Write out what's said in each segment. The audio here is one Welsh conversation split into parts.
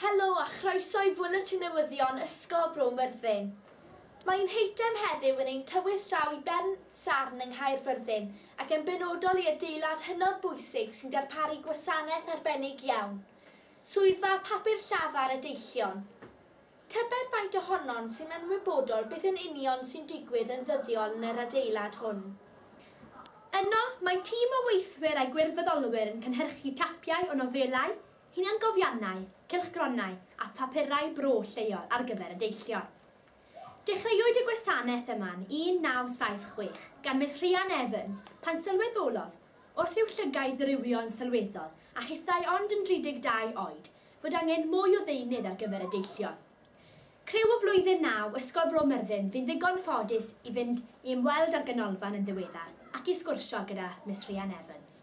Helo a chroeso i Fwletin Newyddion Ysgol Bro Myrddin. Mae ein heitem heddiw yn ein tywys draw i Bern Sarn yng Nghaerfyrddin ac yn benodol i adeilad hynod bwysig sy'n darparu gwasanaeth arbennig iawn, Swyddfa Papur Llafar y Deillion. Tybed faint ohonom sy'n ymwybodol beth yn union sy'n digwydd yn ddyddiol yn yr adeilad hwn? Yno, mae tîm o weithwyr a gwirfoddolwyr yn cynhyrchu tapiau o nofelau, hunangofiannau, cylchgronau a phapurau bro lleol ar gyfer y deillion. Dechreuwyd y gwasanaeth yma yn 1976 gan Miss Rhian Evans pan sylweddolodd, wrth i'w llygaid ddirywio'n sylweddol a hithau ond yn 32 oed, fod angen mwy o ddeunydd ar gyfer y deillion. Criw o Flwyddyn Naw Ysgol Bro Myrddin fu'n ddigon ffodus i fynd i ymweld â'r ganolfan yn ddiweddar ac i sgwrsio gyda Miss Rhian Evans.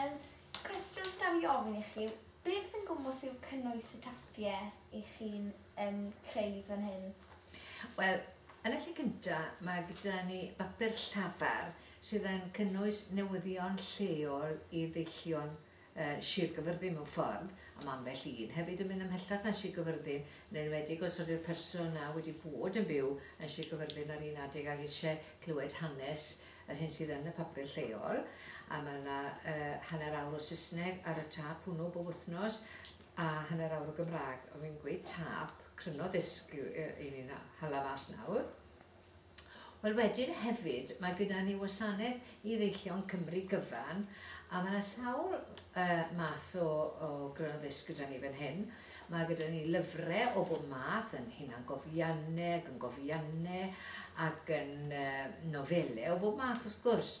Yr cwestiwn sy'n cael ei ofyn i chi yw, beth yn gwmws yw cynnwys y tapiau i chi'n um, creu fan hyn? Wel, yn y lle cynta, mae gyda ni bapur llafar sydd yn cynnwys newyddion lleol i ddeillion uh, Sir Gyfyrddin mewn ffordd, a mae ambell un hefyd yn mynd ymhellach na Sir Gyfyrddin, yn enwedig os ydy'r person na wedi bod yn byw yn Sir Gyfyrddin ar un adeg ac eisiau clywed hanes yr hyn sydd yn y papur lleol, a mae yna hanner awr o Saesneg ar y tâp hwnnw bob wythnos, a hanner awr o Gymraeg. Oedd fi'n gweud tâp, cryno ddisg i ni'n hala mas nawr. Wel wedyn hefyd, mae gyda ni wasanaeth i ddeillion Cymru gyfan, a mae yna sawl uh, math o, o gryno ddisg gyda ni fan hyn, Mae gyda ni lyfrau o bob math, yn hunangofiannau ac yn gofiannau ac yn nofelau o bob math wrth gwrs.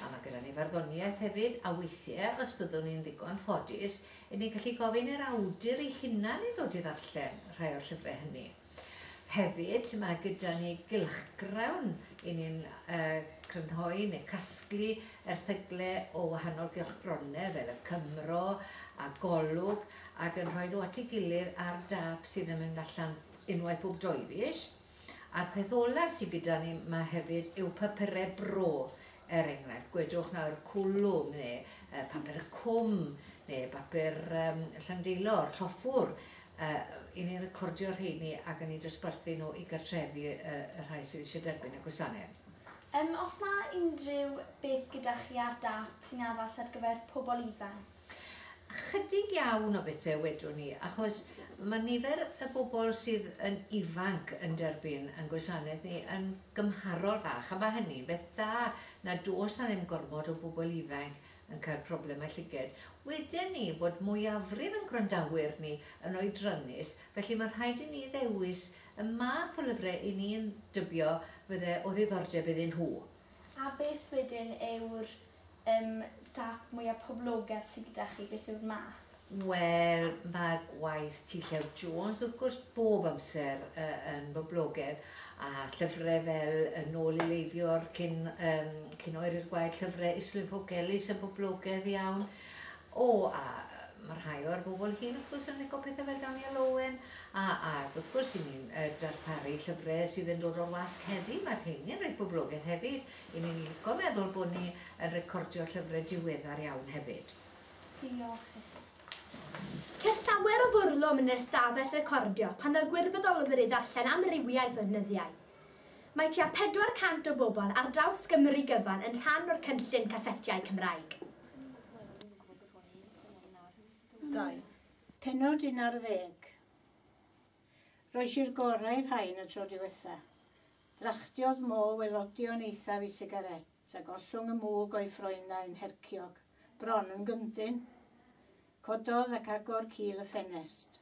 A mae gyda ni farddoniaeth hefyd, a weithiau, os byddwn ni'n ddigon ffodus, 'yn ni'n gallu gofyn i'r awdur ei hunan i ddod i ddarllen rhai o'r llyfrau hynny. Hefyd, mae gyda ni gylchgrawn i ni'n crynhoi neu casglu erthyglau o wahanol gylchgronau fel y Cymro a Golwg ac yn rhoi nhw at ei gilydd ar dâp sydd yn mynd allan unwaith bob doi fis. A'r peth olaf sydd gyda ni mae hefyd yw papurau bro, er enghraifft, gwedwch nawr cwlwm neu papur y cwm neu bapur um, llandeilor, lloffwr, Yy, 'yn ni'n recordio'r rheini ac yn eu dosbarthu nhw i gartrefi y y rhai sydd eisiau derbyn y gwasanaeth. Yym, oes 'na unrhyw beth gyda chi ar dâp sy'n addas ar gyfer pobl ifanc? Chydig iawn o bethe wedwn ni, achos ma' nifer y bobl sydd yn ifanc yn derbyn ein gwasanaeth ni yn gymharol fach, a ma' hynny'n beth da, nad oes 'na ddim gormod o bobl ifanc yn cael problemau llyged. Weden ni fod mwyafrif ein gwrandawyr ni yn oedrannus, felly mae'n rhaid i ni ddewis y math o lyfrau i ni'n dybio fydde o ddiddordeb iddyn nhw. A beth wedyn yw'r um, dap mwyaf poblogedd sydd gyda chi, beth yw'r math? Wel, mae gwaith T. Llew Jones, wrth gwrs, bob amser yn boblogedd, a llyfrau fel Yn ôl i Leifiwr, cyn, um, cyn oer i'r gwaed, llyfrau Islwyn Pogellis yn boblogedd iawn. O, a mae rhai o'r bobl hyn, wrth gwrs, yn licio pethau fel Daniel Owen, a, a wrth gwrs, i ni'n uh, darparu llyfrau sydd yn dod o'r wasg heddi, mae'r heini'n rhaid boblogedd hefyd. I ni'n licio meddwl bod ni yn recordio llyfrau diweddar iawn hefyd. Diolch i chi. Ceir llawer o fwrlwm yn yr ystafell recordio pan ddaw gwirfoddolwyr i ddarllen amrywiaeth o ddeunyddiau. Mae tua 400 o bobl ar draws Gymru gyfan yn rhan o'r cynllun casetiau Cymraeg. Dau. Pennod un ar ddeg. Roes i'r gorau i'r rhain y tro diwetha. Drachtiodd Mo welodion eithaf i sigaret. Tra gollwng y mwg o'i ffroenau'n herciog, bron yn gyndyn, cododd ac agor cil y ffenest.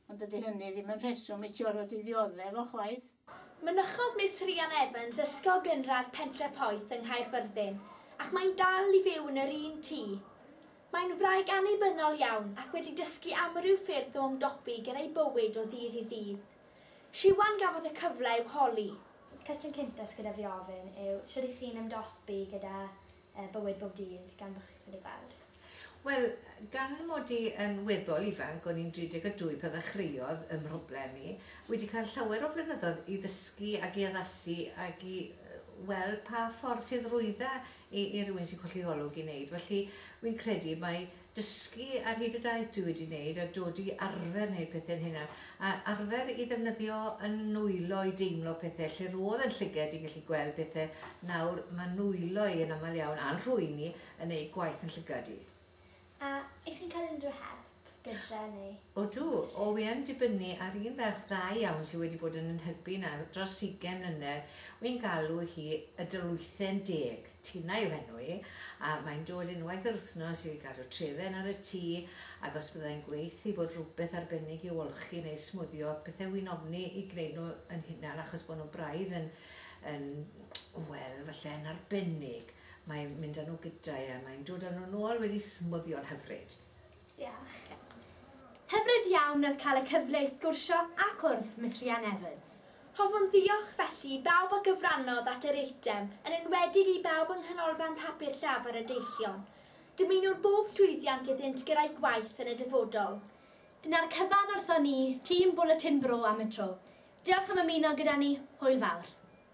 Ond dydy hynny ddim yn rheswm i Jorod i ddioddef o chwaith. Mynychodd Miss Rhian Evans Ysgol Gynradd Pentre Poeth yng Nghaerfyrddin ac mae'n dal i fyw yn yr un tŷ. Mae'n wraig annibynnol iawn ac wedi dysgu amryw ffyrdd o ymdopi gyda'i bywyd o ddydd i ddydd. Siwan gafodd y cyfle i'w holi. Cwestiwn cynta sy gyda fi ofyn yw shwd y'ch chi'n ymdopi gyda bywyd bob dydd gan bo chi'n anifail? Wel, gan mod i yn weddol ifanc, o'n i'n 32 pan ddechreuodd 'y mhroblem i, wedi cael llawer o flynyddoedd i ddysgu ac i addasu ac i weld pa ffordd sydd rwydda i rywun sy'n colli olwg i wneud. Felly, wi'n credu mai dysgu ar hyd y daith dwi wedi wneud a dod i arfer wneud pethe'n hunan, a arfer i ddefnyddio 'y nwylo i deimlo pethe, lle ro'dd e'n llyged i gallu gweld pethe, nawr ma' nwylo i yn amal iawn, a'n rhwyni, yn neud gwaith 'yn llygad i. A 'ych chi'n cael unrhyw help gytre neu? Odw, o wi yn dibynnu ar un ferch dda iawn sy wedi bod yn yn hybu nawr dros ugen mlynedd, wi'n galw hi y Dylwythen Deg, Tina yw henw i, a mae'n dod unwaith yr wthnos i gadw trefen ar y tŷ, ac os byddai'n gweith i bod rhwbeth arbennig i'w olchi neu smwddio pethe wi'n ofni i gneud nhw yn hunan achos bod nhw braidd yn yn wel falle yn arbennig, mae'n mynd â nhw gyda'i a mae'n dod â nhw nôl wedi smwddio'n hyfryd. Diolch. Hyfryd iawn oedd cael y cyfle i sgwrsio a cwrdd Miss Rhian Evans. Hoffwn ddiolch felly i bawb a gyfrannodd at yr eitem, yn enwedig i bawb yng Nghanolfan Papur Llafar y Deillion. Dymunwn bob llwyddiant iddynt gyrra'u gwaith yn y dyfodol. Dyna'r cyfan wrthon ni, tîm Bwletin Bro am y tro. Diolch am ymuno gyda ni, hwyl fawr.